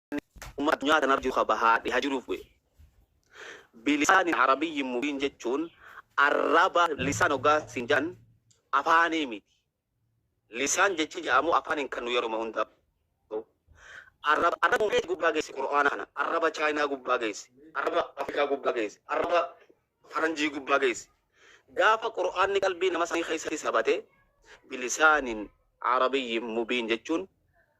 Qur'aanni ummata addunyaa tanarra jiru ka bahaa dhiha jiruuf bu'e. Bilisaanin Arabiyyin mubiin jechuun arraba lisaan hoggaa siin jedhan afaanii miti. Lisaan jechi jedhamu afaaniin kan nu yeruma hundaa ta'u. Arraba arraba meeti gubbaa geessi Qur'aana kana. Arraba Chaayinaa gubbaa geessi. Arraba Afrikaa gubbaa geessi. Arraba Faranjii gubbaa geessi. Gaafa Qur'aanni qalbii nama sanii keessatti sabate bilisaanin Arabiyyin mubiin jechuun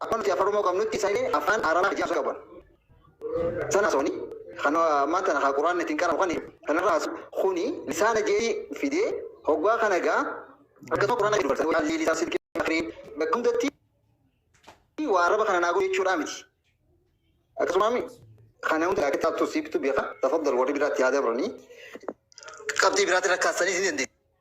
Akkuma nuti Afaan Oromoo qabnutti isaan illee Afaan Arabaa hajii haasoo qaban. San haasawanii kan ammaan tana haa Qur'aanni ittiin qara'u kan kanarra haasu kuni lisaana je'ee fidee hoggaa kana gaa akkasuma Qur'aana jedhu barsan waalli lisaan silkii akhirii bakka hundatti waa araba kana naa godhu jechuudhaa miti. Akkasuma mi kana hunda akka taatu siibtu beeka tafaddal warri biraatti haa dabranii qabxii biraatti rakkaasanii si dandeessu.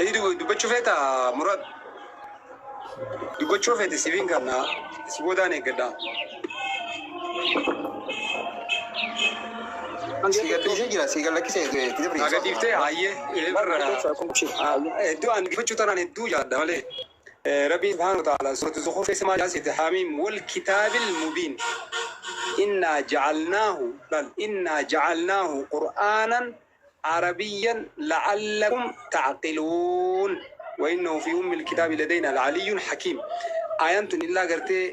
Edi dubbachuu feeta Muraad. Dubbachuu feete sibiin kana si boodaan eeggadha. Si gadhiisee jira si gallakkisee itti dabriisa. Naa gadhiiftee hayyee. Hedduu ani dubbachuu tanaan hedduu jaadha malee. Rabbiin subhaanahu wa ta'aalaa suuratu Zukhruf keessa maal ja'aa seete Haamiim wal kitaabil mubiin innaa ja'alnaahu laal innaa ja'alnaahu qur'aanan arabiyyan la'allakum ta'qiluun wa innahu fii ummil kitaabi ladaynaa la'aliyyun hakiim Aayaan tun illaa gartee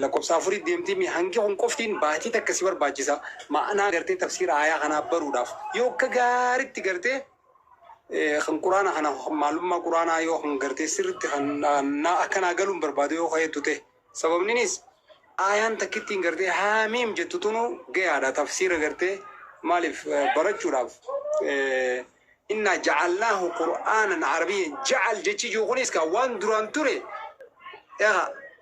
lakkoofsa afurii deemtii mi hangi kun qoftiin baatii takka si barbaachisa ma'anaa gartee tafsiira aayaa kanaa baruudhaaf yoo akka gaaritti gartee Eh, kan quraana kana maalummaa quraanaa yoo kan gartee sirritti kan na- na- akka naa galuun barbaadu yoo ka'eettu ta'e sababninis aayaan takkittiin gartee haamiim jettu tunu gayaadha tafsiira gartee maaliif eh, barachuudhaaf Eh, innaa jacalnaahu qur'aanan arabiyya jacal jechi jiru kunis kaa waan duraan ture egaa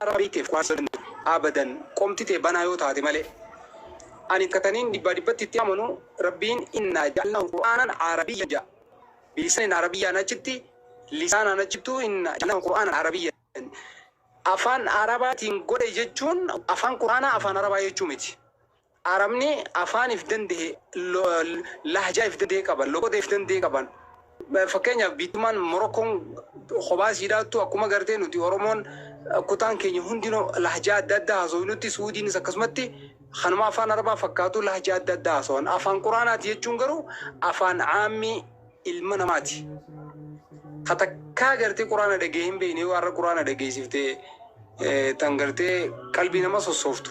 Yaa Rabii keef waan sodantu abadan qomti tee banaa yoo taate malee Ani ka taniin dhibbaa dhibbatti itti amanu Rabbiin innaa ja'alnaahu qur'aanan aarabiyyan ja'a bilisanin aarabiyyaan achitti lisaanaan achittuu innaa ja'alnaahu qur'aanan aarabiyyan afaan aarabaatiin godhe jechuun afaan qur'aanaa afaan arabaa jechuu miti Arabni afaan if dande'e, lahjaa if dande'e qaban, loqoda if dande'e qaban. Fakkeenyaaf biittummaan Morokkoon kophaa isiidhaattu akkuma gartee nuti Oromoon kutaan keenya hundinuu lahjaa adda addaa haasofnutti Suudiinis akkasumatti kanuma afaan Arabaa fakkaatu lahjaa adda addaa haasawan. Afaan Qur'aanaati jechuun garuu afaan caammii ilma namati ka takka garte qurana dhagee hin beyne yoo arra qurana dhageesifte tan garte qalbii nama sossooftu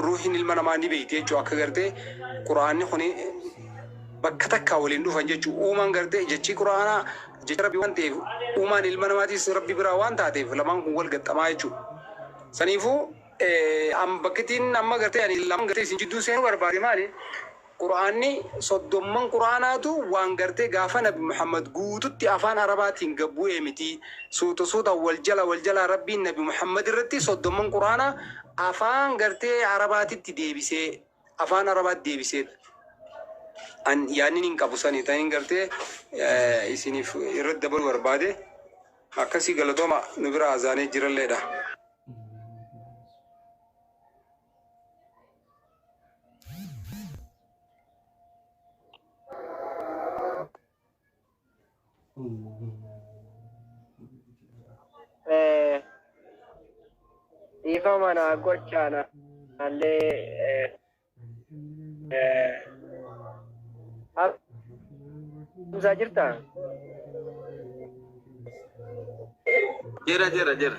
ruhin ilma namaa ni beyti jechu akka garte quraanni kuni bakka takka waliin dhufan jechu uumaan garte jechii quraanaa jecha rabbi waan ta'eef uumaan ilma namaatis rabbi biraa waan taateef lamaan kun wal gaxxamaa jechu saniifuu am bakkitiin amma garte ani lamaan garte isin jidduu seenuu barbaade maali Qur'aanni soddomman Qur'aanaatu waan gartee gaafa nabi Muhammad guututti afaan arabaatiin gad bu'e miti. Suuta suutaan wal jala wal jalaa Rabbiin nabi Muhammad irratti soddomman Qur'aanaa afaan gartee arabaatitti deebisee afaan arabaatti deebiseedha. An yaanni hin qabu sani ta'in gartee isiniif irratti dabaluu barbaade akkasii galatooma nu bira azaanee jiralleedha. Eh, dhiifama naa gochaa na- naallee eh, eh, haasofsiisaa jirtaa? Jira jira jira.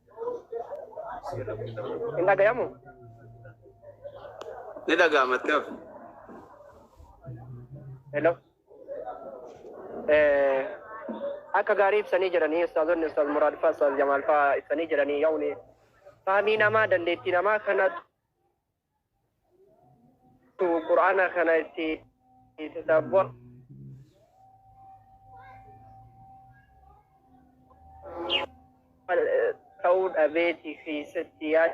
Hin dhagayamu? Ni dhaga'ama itti hafu. Hello. Eh, akka gaarii ibsanii jiranii ustaazonni ustaaz Muraad faa ustaaz Jamaal faa ibsanii jiranii yaa'uni. Faamii namaa dandeettii namaa kanatu Qur'aana kana itti tadabbur ta'uu dhabeeti keessatti yaad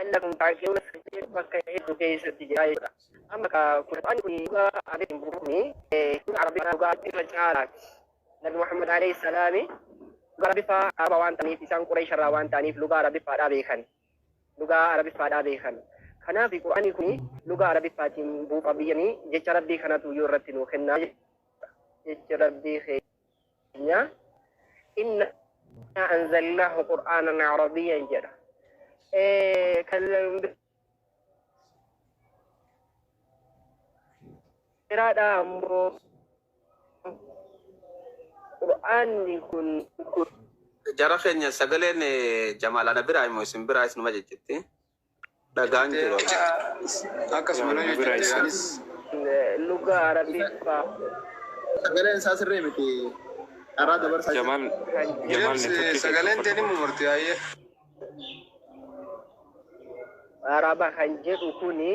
Anna kun kaakiyoo sirrii bakka hedduu keessatti jira jechuudha. Amma ka Qur'aanni kun dhugaa adeemu kuni kun Arabiffaa dhugaa irra caalaati. Nabi Muhammad alayhi salaami dhugaa Arabiffaa Araba waan ta'aniif isaan Qureesh irraa waan ta'aniif dhugaa Arabiffaadhaa beekan. Dhugaa Arabiffaadhaa beekan. Kanaaf Qur'aanni kun dhugaa Arabiffaatiin buuqa biyyanii jecha Rabbii kanatu yoo irratti nuu kennaa jecha Rabbii keenya. Nya inna anzalnahu qur'aanan arabiyyan jedha. Eh, kan biraadha ammoo qur'aanni kun Jara keenya sagaleen eh, Jamaal ana biraa immoo isin biraa isinuma jechiti. dhagaan jira yaa nu biraa isaa. Luga arabi fa. Sagaleen isaa sirrii miti dharaa dabarsaa jira. Jamal Jamal network kee Sagaleen tee ni mumarti haayee. Araba kan jedhu kuni.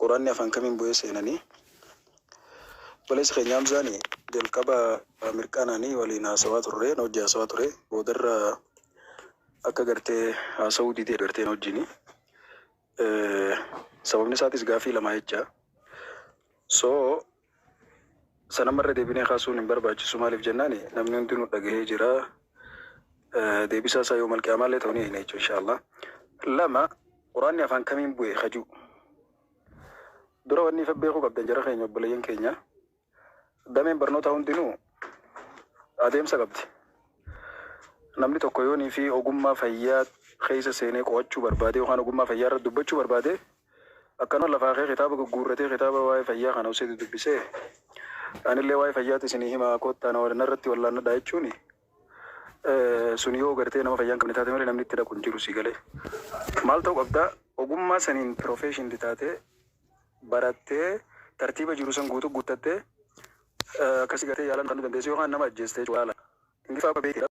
Quranni afan kamin bu'ee seenani obboleessi keenya hamzaani jalqaba mirqaanani waliin haasawaa turre na wajji haasawaa ture boodarra akka garte haasawuu didee garte na wajjini sababni isaatis gaafii lama jecha so San amma irra deebinee kaasuun hin barbaachisu maaliif jennaan namni hundinuu dhagahee jira. Eh, Deebisaa isaa yoomal qiyaamaallee ta'u ni eegna jechuudha inshaallah. Lama quraanni afaan kamiin bu'e kajuu. Dura wanni ifa beekuu qabdan jara keenya obboleeyyan keenya dameen barnootaa hundinuu adeemsa qabdi. Namni tokko yoonii fi ogummaa fayyaa keessa seenee qo'achuu barbaade yookaan ogummaa fayyaa irratti dubbachuu barbaade Akkanuma lafaa kee kitaaba gugguurratee kitaaba waa'ee fayyaa kana usee dudubbisee anillee waa'ee fayyaati isinii himaa koottaa na wal- narratti wallaannadhaa jechuuni sun yoo gartee nama fayyaa hin qabne taate malee namni itti dhaqu hin jiru sii galee. Maal ta'uu qabda ogummaa saniin professioned taatee barattee tartiiba jiru san guutuu guuttattee akkasi gartee yaalamuu kan dandeessu yookaan nama ajjeestee jechuudha haala. Ingiliffaa akka beekte.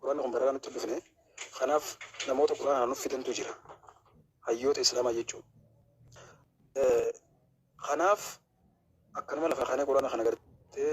Qur'aanni kun baranaa nutti hin dhufne. Kanaaf namoota Qur'aana kana nuuf fidantu jira. Hayyoota Islaamaa jechuun. Kanaaf akkanuma lafaa kaanee Qur'aana kana gartee